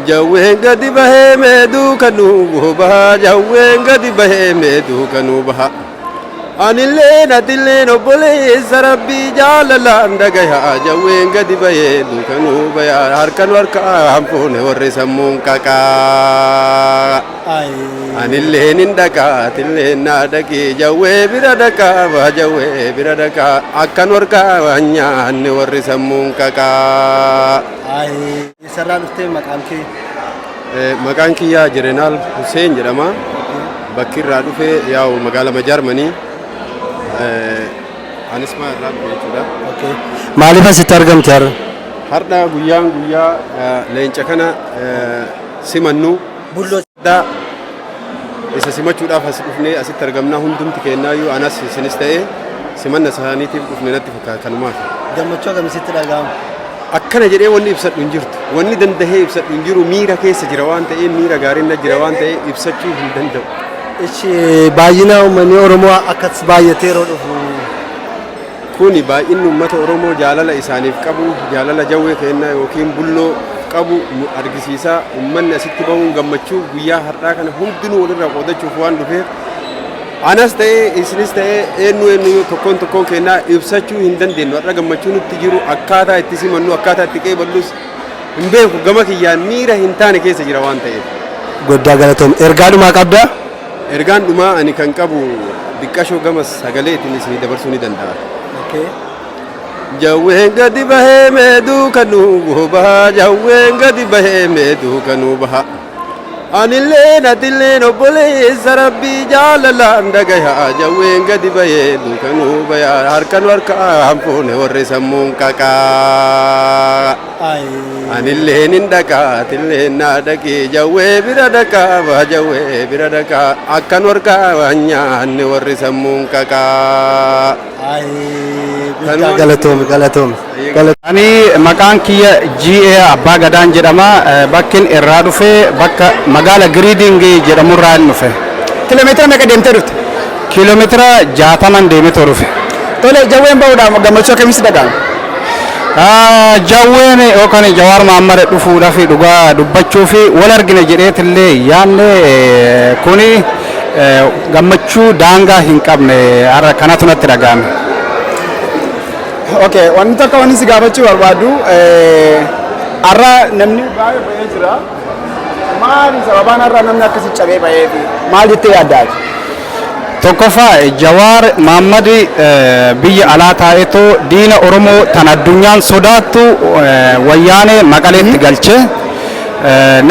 Jawween gadi bahee mee duuka nuu bahaa jawween gadi bahee mee duuka nuu bahaa. Anillee natillee obboleessa rabbii jaalalaan dhagayaa jawween gadi bahee duuka nuu bayaa harka nu harkaan fuune warri sammuun qaqaa. Anillee nin dhaqaa atillee naa dhaqii jawwee bira dhaqaa baa jawwee bira dhaqaa akka nu harkaan nyaanne warri sammuun qaqaa. Eessarraa dhuftee maqaan kee? Maqaan kiyyaa Jerenaal Huseen jedhama. Bakki irraa dhufe yaa'u magaalama Jaarmanii. Anis maa irraa dhufe jechuudha. Okay. Maaliif asitti argamte har'a? Har'a guyyaan guyyaa eh, leenca kana eh, simannu. Bulloo Daa isa simachuudhaaf as dhufnee asitti argamnaa hundumti kennaayyuu anas isinis ta'ee simanna isaaniitiif dhufne natti fakkaata kanumaaf. Gammachuu agamisitti dhaga'ama. Akkana jedhee wanni ibsadhu hin jirtu. Wanni dandahee ibsadhu hin jiru miira keessa jira waan ta'ee miira gaariin na jira waan ta'ee ibsachuu hin danda'u. Ishi baay'ina uummanni Oromoo akkas baay'atee yeroo dhufu Kuni baay'inni ummata Oromoo jaalala isaaniif qabu, jaalala Jawwee keennaa ykn Bulloo qabu argisiisa. Ummanni asitti bahuun gammachuu guyyaa hardhaa kana hundinuu walirraa qoodachuuf waan dhufeef anas ta'ee isinis ta'ee eenyu eenyu tokkoon tokkoon keennaa ibsachuu hin dandeenyu. Har'a gammachuu nutti jiru akkaataa itti simannu akkaataa itti qeeballus hin beeku. Gama kiyyaan miira hin taane keessa jira waan ta'eef. Goddaa galatoom. Ergaa dhumaa qabdaa? Ergaan dhumaa ani kan qabu diqqashoo gama sagaleetiin isinii dabarsuu ni danda'a. Okay. Jawween gadi bahee mee duuka nuu bobaha jawween gadi bahee mee duuka nuu baha. Anillee natilleen obboleessa rabbii jaalalaan dhagayaa jawween gadi bahee duuka nuu bayaa harka nu harkaan fuune warri sammuun qaqaa. Anillee nin dhaqa atillee naa dhaqi jawwee bira dhaqa baa jawwee bira dhaqa akka norgaa waan nyaanne warri sammuun qaqa. Guddaa galatoomi galatoomi. Ani maqaan kiyya GA Abbaa Gadaan jedhama. Bakkin irraa dhufe bakka magaala Giriiding jedhamurraan dhufe. Kilomeetira meeqa deemtee dhufte? Kiilomeetira 60n deemeetoo dhufe. Tole, Jawween bahuudhaaf gammachuu akkamii sitti dhaga'ame? Jawween yookaan Jawaar Mahaammad dhufuudhaaf dhugaa dubbachuuf wal argina jedheetillee hin yaanne. Kun gammachuu daangaa hin qabne har'a kanatu natti dhaga'ame. Okay, wanni tokko wanni si gaafachuu barbaadu har'a namni baay'ee bahee jira. Maali sababaan har'a namni akkasi cabee ba'eefi? Maal jettee yaadda ati? Tokkoffaa Jawaar Maammad biyya alaa taa'eetoo diina Oromoo tan addunyaan sodaattu wayyaanee maqaleetti galche.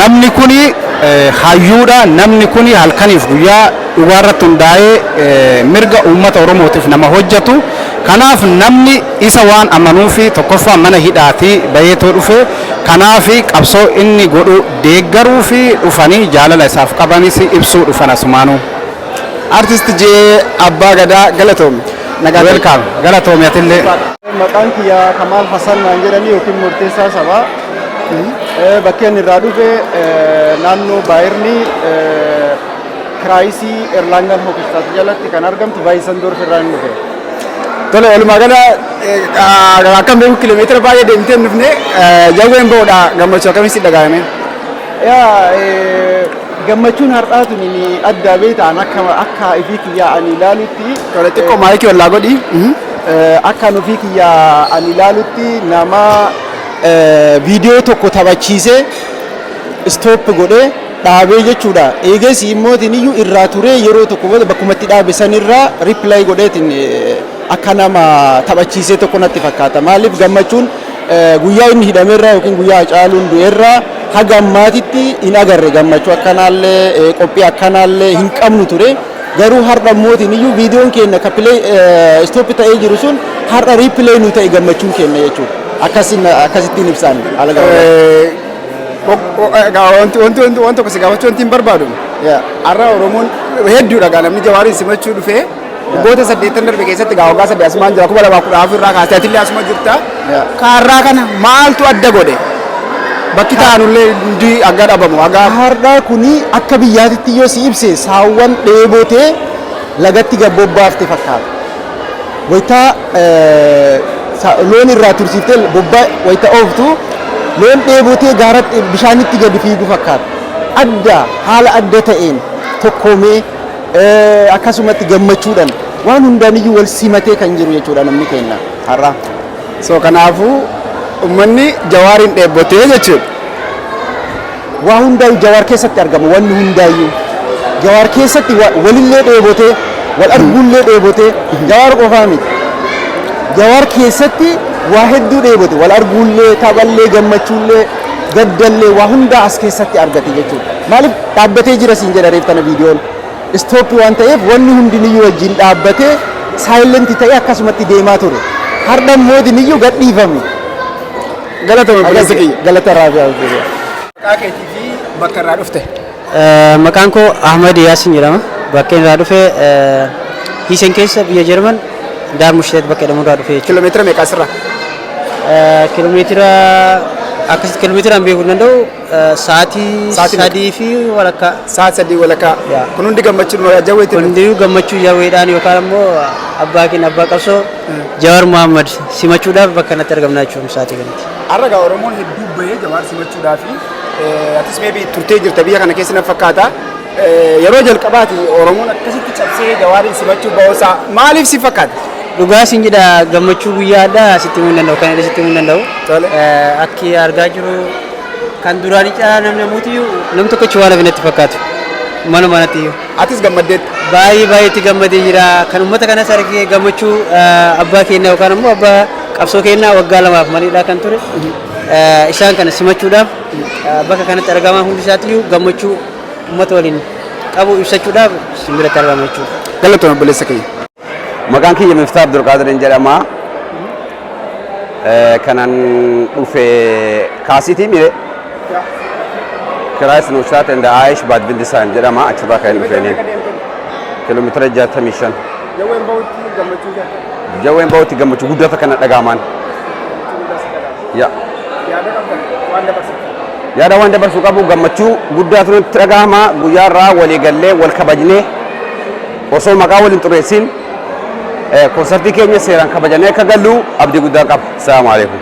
Namni kuni hayyuudha. Namni kuni halkaniif guyyaa dhugaa irratti hundaa'ee mirga uummata Oromootiif nama hojjetu. Kanaaf namni isa waan amanuufi tokkoffaa mana hidhaatii bayeetoo dhufe Kanaaf qabsoo inni godhu deeggaruu fi dhufanii jaalala isaaf qabanis ibsuu dhufan asumaanuu. Artist J Abbaa Gadaa galatoomi. Nagaa ta'i. Welcome. Galatoomi atillee. Maqaan kiyya Kamaal Hasan naan jedhanii yookiin Murteessaa Sabaa. Eh, Bakki ani irraa dhufe eh, naannoo Baayirni Kiraayisii Erlaangan Hokistaat jalatti kan argamtu Baayisandorf irraa hin dhufe. Tole walumaa gala akkam beeku kiiloomeetira baay'ee deemtee hin dhufne jawween ba'uudha gammachuu akkamii si dhaga'ame? Yaa gammachuun har'aa tun addaa beektaan akka akka ifii kiyyaa ani ilaalutti. Tole xiqqoo maayikii ollaa godhi. Akka nufii kiyyaa ani ilaalutti nama viidiyoo tokko taphachiisee istooppi godhee dhaabee jechuudha. Eegasii immootiin iyyuu irraa turee yeroo tokko booda bakkuma itti dhaabe sanirraa riipilaay godheetiin akka nama taphachiisee tokko natti fakkaata. Maaliif gammachuun guyyaa inni hidhamerraa yookiin guyyaa Hacaaluun du'erraa haga ammaatitti hin agarre gammachuu akkanaallee qophii akkanaallee hin qabnu ture. Garuu har'a immootiin iyyuu viidiyoon keenya akka pilee istooppi ta'ee jiru sun har'a riipilaay nu ta'e gammachuun keenya jechuudha. Akkasittiin ibsaan haala gabaabaa. Waan tokko si gaafachuu wanti hin barbaadu. Har'a Oromoon hedduudha gaa namni jawaariin simachuu dhufee waggoota saddeettan darbe keessatti gaa waggaa saddeet asumaan jira kuma lamaa kudha afur irraa kaasee atillee asuma jirta. Kaarraa kana maaltu adda godhe? Bakki taa'anullee hundi hanga dhabamu hanga Har'a kuni akka biyyaatitti yoo si ibse saawwan dheebotee lagatti gad bobbaafte fakkaata. Wayita loon irraa tursiiftee bobba wayita ooftu loon dheebotee gaara bishaanitti gadi fiigu fakkaata. Adda haala adda ta'een tokkoomee akkasumatti gammachuudhaan waan hundaaniyyuu wal simatee kan jiru jechuudha namni keenya har'a. So kanaafuu ummanni Jawaariin dheebbotee jechuudha. Waa hundaayu jawaar keessatti argama wanni hundaayyu jawaar keessatti walillee dheebotee wal arguullee dheebotee jawaar qofaa miti jawaar keessatti waa hedduu dheebote wal arguullee taphallee gammachuullee gaddallee waa hundaa as keessatti argate jechuudha maaliif dhaabbatee jira siin jedha reef kana viidiyoon istooppii waan ta'eef wanni hundiniyyuu wajjin dhaabbatee saayilenti ta'ee akkasumatti deemaa ture hardhan moodiniyyuu gadhiifame Galatoomi obboleessa kiyya. Galata irraa fi hawwii kiyya. Maqaa keetii fi bakka irraa dhufte. Maqaan koo Ahmad Yaasin jedhama. Bakkeen irraa dhufe Hiisen keessa biyya Jarman Daarmushtet bakka jedhamu irraa dhufe jechuudha. Kiiloomeetira meeqa asirraa? Kiiloomeetira akkasitti kiiloomeetiraan beekuu hin danda'u Sa'aatii Sa'aatii meeqa? sadii fi walakkaa Sa'aatii sadii walakkaa. Yaa. Kun hundi gammachuu dha. Jawwee itti hundiyyuu gammachuu jawweedhaan yookaan ammoo abbaa keenya abbaa qabsoo Jawaar Mohaammed simachuudhaaf bakka kanatti argamnaa jechuudha sa'aatii kanatti. Har'a gaa Oromoon hedduu bahee Jawaar simachuudhaa fi atis meebii turtee jirta biyya kana keessa na fakkaata. Eh, Yeroo jalqabaati Oromoon akkasitti cabsee Jawaariin simachuu ba'uusaa maaliif si fakkaata? Dhugaa siin jedha gammachuu guyyaa addaa sitti himuu hin danda'u kan inni sitti himuu hin danda'u. Tole. Eh, Akki argaa jiru Kan duraanii caalaa namni ammuutiyyuu nam tokkochi waan hafe natti fakkaatu. Mana manattiyyuu. Atis gammaddeetta. Baay'ee baay'ee itti gammadee jira. Kan uummata kanas argee gammachuu eh, abbaa keenyaa yookaan immoo abbaa qabsoo keenyaa waggaa lamaaf maliidhaa kan ture. Eh, Isaan kana simachuudhaaf eh, bakka kanatti argamaa hundi isaatiyyuu gammachuu uummata waliin qabu ibsachuudhaaf isin biratti argama jechuudha. Galatoomi obboleessa keenya. Maqaan kiyya Miftaa Abdulqaadiriin jedhama. Eh, Kanan dhufe kaasitii mire Kiraayis Nuustaat and Aayish Baadbindisaan jedhama achirraa kan dhufeeni. Kiiloomeetira 65. Jawween bahutti gammachuu jira. Jawween bahutti gammachuu guddata kana dhagaamaan. Ya. Yaada qabdan waan dabarsitan. Yaada waan dabarsuu qabu gammachuu guddaatu nutti dhagahama guyyaarraa walii gallee wal kabajnee Osoo maqaa wal hin xureessiin konsartii keenya seeraan kabajannee akka gallu abdii guddaa qaba. Salaamu alaikum.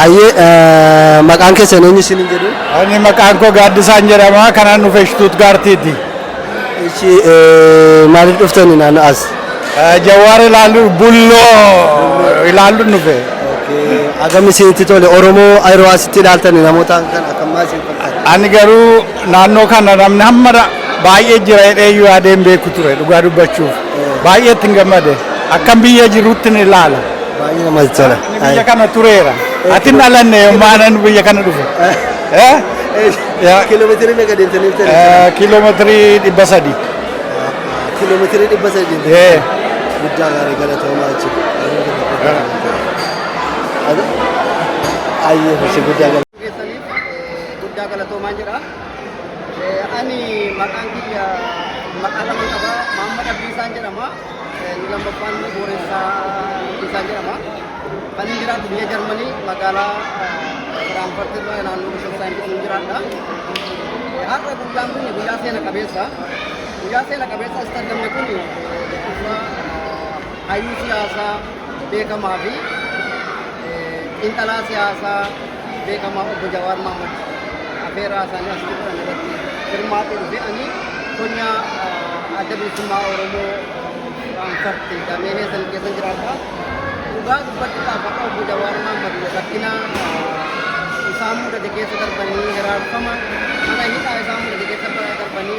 Ayyee maqaan keessan eenyu isin hin jedhu? Ani maqaan koo Gaaddisaan jedhama. Kanaan dhufe Shtuutgaartiiti. Ishi maaliif dhuftani naannoo as? Jawaar ilaalu bulloo ilaalu dhufe. Agam isinitti tole Oromoo yeroo asitti ilaaltani namoota kan akkamaa isin fakkaata? Ani garuu Naannoo kana namni hamma baay'ee jira jedhee iyyuu yaadee hin beeku ture dhugaa dubbachuuf. Baay'ee ittiin gammade. Akkan biyya jirutti ni ilaala. Baay'ee namatti tola. Ani biyya kana tureera. Ati hin dhalanne yommuu anan biyya kana dhufe. Eh? Ya. Kiiloomeetirii meeqa deemtanii turtan? Eh, Kiiloomeetirii dhibba sadii. Kiiloomeetirii dhibba sadii deemtanii. Eh. Guddaa gaarii galatoomaa jechuudha. Ayyee, hojii guddaa galatoomaa. keessaniif guddaa galatoomaan jedha. Ani maqaan kiyya maqaa lama qaba. Maamma Dhabbiisaan jedhama. Inni lammaffaan immoo Booressaa Dhabbiisaan jedhama. Kan inni jiraatu biyya Jarmanii magaalaa Firaanfurt irraa naannoo Bishoofsaan jedhamu jiraadha. Har'a guyyaan kun guyyaa seena qabeessa. Guyyaa seena qabeessa as dandamne kun hayyuu siyaasaa beekamaa fi xiinxalaa siyaasaa beekamaa obbo Jawaar Mahmud afeeraa isaanii asitti godhan irratti hirmaatee dhufe ani qonnaa adda bilisummaa Oromoo Firaankarti dameenee san keessa jiraata. Dhugaa dubbachuudhaaf akka obbo Jawaar Mahmud rakkina isaan mudate keessa darbanii hiraarfama mana hidhaa isaan mudate keessa darbanii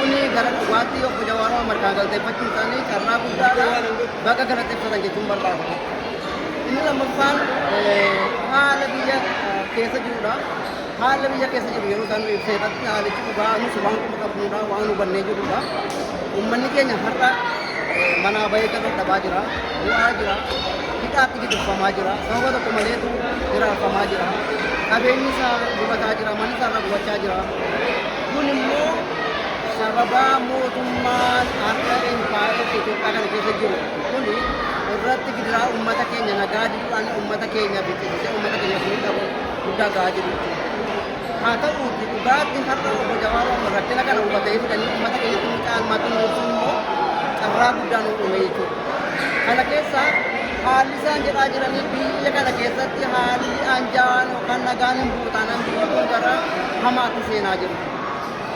Kuni gara dhugaatti obbo Jawaar Mohammad kana galteeffachuun isaanii carraa guddaadha. Baga galateeffatan jechuun barbaada. Inni lammaffaan haala biyya keessa jirudha. Haala biyya keessa jiru yeroo isaan ibsee irratti haalichi dhugaa nus waan quba qabnudha, waan hubannee jirudha. Uummanni keenya har'a manaa bahee gabaa dhabaa jira, bu'aa jira, hidhaatti gidirfamaa jira, sababa tokko maleetu hiraarfamaa jira. Qabeenyi isaa gubataa jira, manni isaa irra gubachaa jira. Kun immoo sababaa mootummaan akka empaayeera Itoophiyaa kana keessa jiru kun irratti gidiraa uummata keenya nagaa diduudhaan uummata keenya biqilchee uummata keenya furii qabu guddaa gahaa jiru jechuudha. Haa ta'uutti dhugaatti har'a obbo Jawaar Mohaammed rakkina kana hubatee fidanii uummata keenyatti hin caalmaatti nuuf immoo carraa guddaa nuuf uume jechuudha. Kana keessaa haalli Isaan jedhaa jiranii biyya kana keessatti haalli anjaa'aan yookaan nagaan hin bu'u taanaan biyyi kun gara hamaatti seenaa jiru.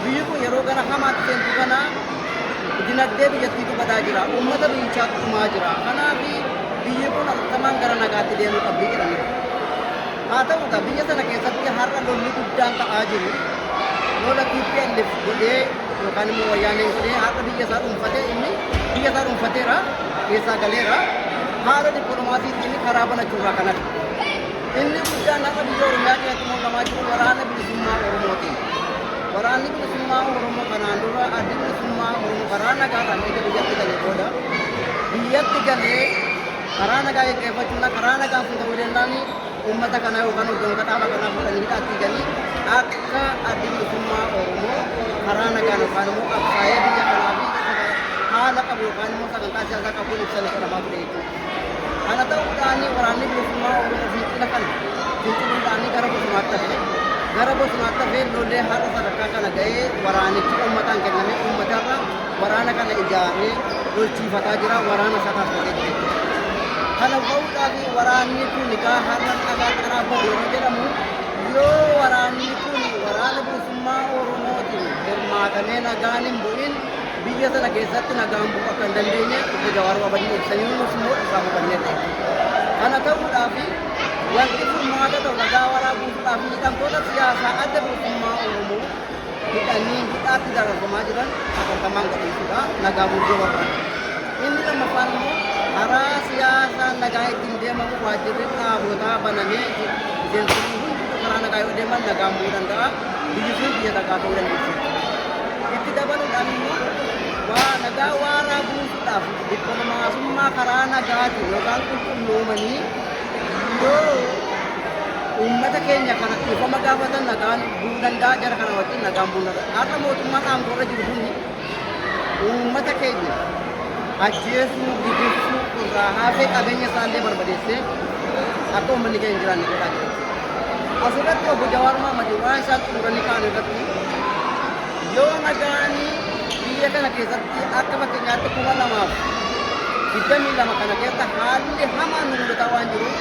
Biyyi kun yeroo gara hamaatti seentu kana dinagdee biyyattii gubataa jira. Uummata biyyichaatu dhumaa jira. Kanaaf biyyi kun hatattamaan gara nagaatti deemuu qabdi jedhaniiru. Haa ta'u egaa biyya sana keessatti har'a lolli guddaan ta'aa jiru. Lola TPLF godhee yookaan immoo wayyaanee ishee har'a biyya isaa dhuunfatee inni biyya isaa dhuunfateera keessaa galeera haala dippiloomaasiitiin karaa banachuurraa kan hafe. Inni guddaan har'a biyya Oromiyaa keessatti mul'amaa jiru waraana bilisummaa Oromootiin. Waraanni bilisummaa Oromoo kanaan dura addi bilisummaa Oromoo karaa nagaadhaan erga biyyatti galee booda biyyatti galee karaa nagaa gaggeeffachuun karaa nagaan kun ta'uu danda'anii Uummata kana yookaan hoggantoota dhaaba kanaa fuudhanii hidhaatti hidhanii akka addi bilisummaa Oromoo karaa nagaan yookaan immoo qabsaa'ee biyya kanaa fi haala qabu yookaan immoo sagantaa siyaasaa qabuun ibsame jedhamaa ture jechuudha. Kana ta'uudhaan waraanni bilisummaa Oromoo fincila kana finciluudhaan gara bosonaatti hafe. Gara bosonaatti hafee lollee har'a sadarkaa kana ga'ee waraanichi uummataan kennamee uummatarra Waraana kana ijaaree lolchiifataa jira. Waraana sana akka geggeessu. Kana ba'uudhaaf waraanni kun kaa har'a dhagaa qaraabbatu yeroo jedhamu yoo waraanni kun waraana bilisummaa Oromootiin hirmaatamee nagaan hin bu'in biyya sana keessatti nagaan bu'u akka hin dandeenye obbo Jawaar Babadii ibsanii nus immoo isaa hubannee ta'e. Kana ta'uudhaaf wanti furmaata ta'u nagaa waraabuudhaaf hidhamtoota siyaasaa adda bilisummaa Oromoo hidhanii hidhaatti dararfamaa jiran hatattamaan gadhiisuudha nagaa buusuu barbaada. Inni lammaffaan immoo karaa siyaasaa nagaa ittiin deemamu waajjirri dhaabootaa banamee miseensonni hunduu karaa nagaa yoo deeman nagaa bu'uu danda'a. Biyyi sun biyya nagaa ta'uu dandeessi. Itti dabaluudhaan immoo waa nagaa waaraa buusuudhaaf dippiloomaasummaa karaa nagaatiin yookaan qulqulloomanii yoo uummata keenya kana dhiifama gaafatan nagaan Bu'uu danda'a jara kana wajjin nagaan bu'uu danda'a. Har'a mootummaan aangoorra jiru kun uummata keenya ajjeesuu, gidirsuu irraa haasee qabeenya isaallee barbadeessee akka uummanni keenya hin jiraanne godhaa jira. Asirratti obbo Jawaar Mohaammed waan isaan xumuranii ka'an irratti yoo nagaanii biyya kana keessatti akka fakkeenyaatti kuma lamaaf digdamii lama kana keessa haalli hamaan nu mudataa waan jiruuf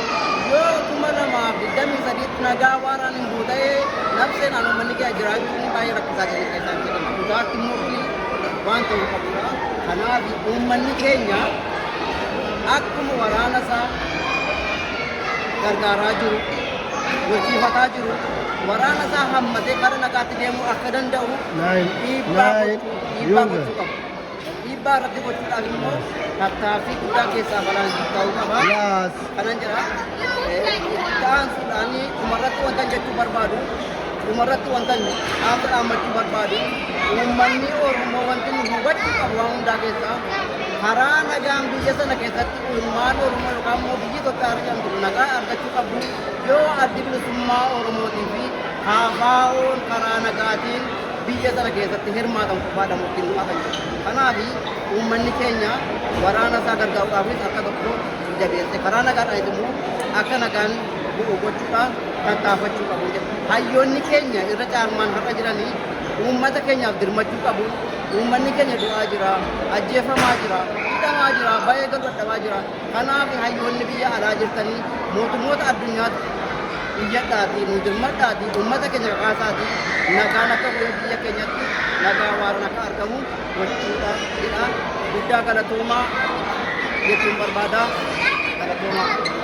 yoo kuma lamaaf digdamii sadiitti nagaa waaraan Yoo ta'ee labsee naannoo manni kee jiraachuun baay'ee rakkisaa ta'e kan isaan jedhan. Dhugaatti immoo kuni waan ta'uu qabudha. Kanaaf uummanni keenya akkuma waraana isaa gargaaraa jiru, hojiifataa jiru, waraana isaa hammatee gara nagaatti deemuu akka danda'u Nine, dhiibbaa nine, gochuu dhiibbaa user. gochuu qabu. Dhiibbaa irratti gochuudhaan immoo tattaaffii guddaa keessaa balaan ta'uu qaba. Kanan jira. Ta'an suudhaan dhumarratti wanta jechuu barbaadu dhumarratti wanta dhaamsa dhaammachuu barbaadu uummanni Oromoo wanti nu hubachuu qabu waan hundaa keessaa karaa nagaan biyya sana keessatti ilmaan Oromoo yookaan immoo biyyi Itoophiyaa argamtu nagaa argachuu qabdu yoo addi bilisummaa Oromootii fi kaafaa'oon karaa nagaatiin biyya sana keessatti hirmaatan qofaadha murtiin du'aa kan jedhu. Kanaaf uummanni keenya waraana isaa gargaaruudhaafis akka tokko jabeesse karaa nagaadhaanis immoo akka nagaan bu'u gochuudhaan tattaafachuu qabu jedha. Hayyoonni keenya irra caalmaan har'a jiranii uummata keenyaaf dirmachuu qabu. Uummanni keenya du'aa jira, ajjeefamaa jira, hidhamaa jira, baay'ee gad dadhabaa jira. Kanaaf hayyoonni biyya alaa jirtanii mootummoota addunyaatti iyyadhaatii nuu dirmadhaatii uummata keenya kakaasaatii nagaan akka bu'ee biyya keenyatti nagaa waaroon akka argamu gochuudha jedha. Guddaa galatoomaa jechuun barbaada. Galatoomaa.